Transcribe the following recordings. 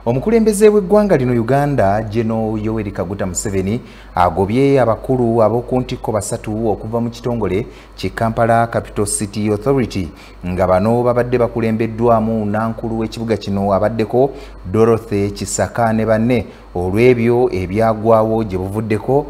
Omukulembeze w'eggwanga lino Uganda Geno Yoweri Kaguta Museveni agobye abakulu ab'oku ntikko basatu okuva mu kitongole ki Kampala Capital City Authority nga bano babadde bakulembeddwamu nankulu w'ekibuga kino abaddeko Dorothy Kisaka ne banne olw'ebyo ebyagwawo gye buvuddeko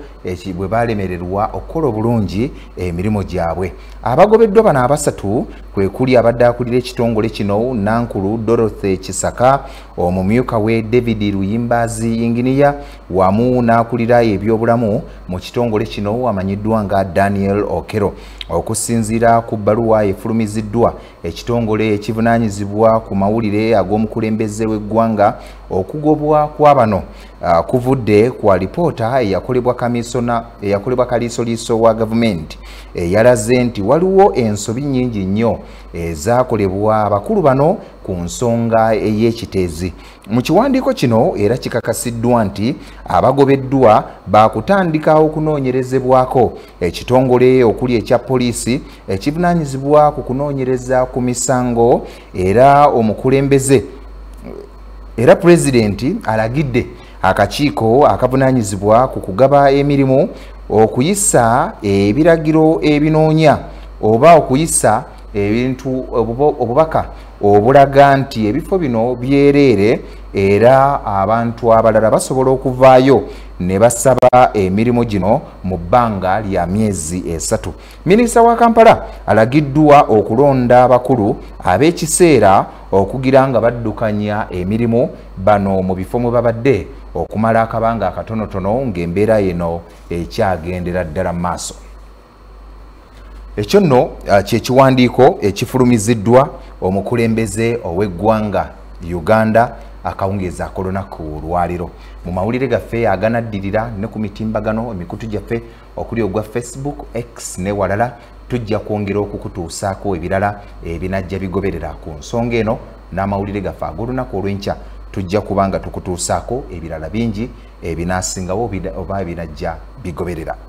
bwe baalemererwa okukola obulungi emirimu gyabwe. Abagobeddwa bano abasatu kwekuli abadde akulira ekitongole kino nankulu dorothy kisaka omumyuka we david luyimbazi yinginiya wamu n'akulira ebyobulamu mu kitongole kino amanyiddwa nga daniel okero okusinziira ku bbaluwa efulumiziddwa ekitongole ekivunaanyizibwa ku mawulire ag'omukulembeze w'eggwanga okugobwa kwa bano Ah, kuvudde ku alipoota eyakolebwa kamisona eyakolebwa kaliisoliiso wa gavumenti eyalaze eh, nti waliwo ensobi nyingi nnyo ezakolebwa eh, abakulu bano ku nsonga ey'ekiteezi eh, mu kiwandiiko kino era kikakasiddwa nti abagobeddwa baakutandika okunoonyerezebwako ekitongole okuli ekya poliisi ekivunaanyizibwa ku kunoonyereza ku misango era omukulembeze era pulezidenti alagidde akakiiko akavunanyizibwa ku kugaba emirimu okuyisa ebiragiro ebinoonya oba okuyisa ebintu obubaka obulaga nti ebifo bino byereere era abantu abalala basobola okuvaayo ne basaba emirimu gino mu bbanga lya myezi esatu minisita wa kampala alagiddwa okulonda abakulu ab'ekiseera okugira nga baddukanya emirimu bano mu bifo mwe babadde okumala akabanga akatonotono ng'embeera yeno ekyagendera ddala mu maaso ekyo nno uh, kyekiwandiiko ekifulumiziddwa omukulembeze ow'eggwanga uganda akawungeezi akolunaku olwaliro mu mawulire gaffe aganaddirira ne ku mitimbagano emikutu gyaffe okuli ogwa facebook x ne walala tujja kwongera okukutuusaako ebirala ebinajja bigoberera ku nsonga eno n'amawulire gaffe ag'olunaku olw'enkya tujja kuba nga tukutuusaako ebirala bingi ebinaasingawo oba ebinajja bigoberera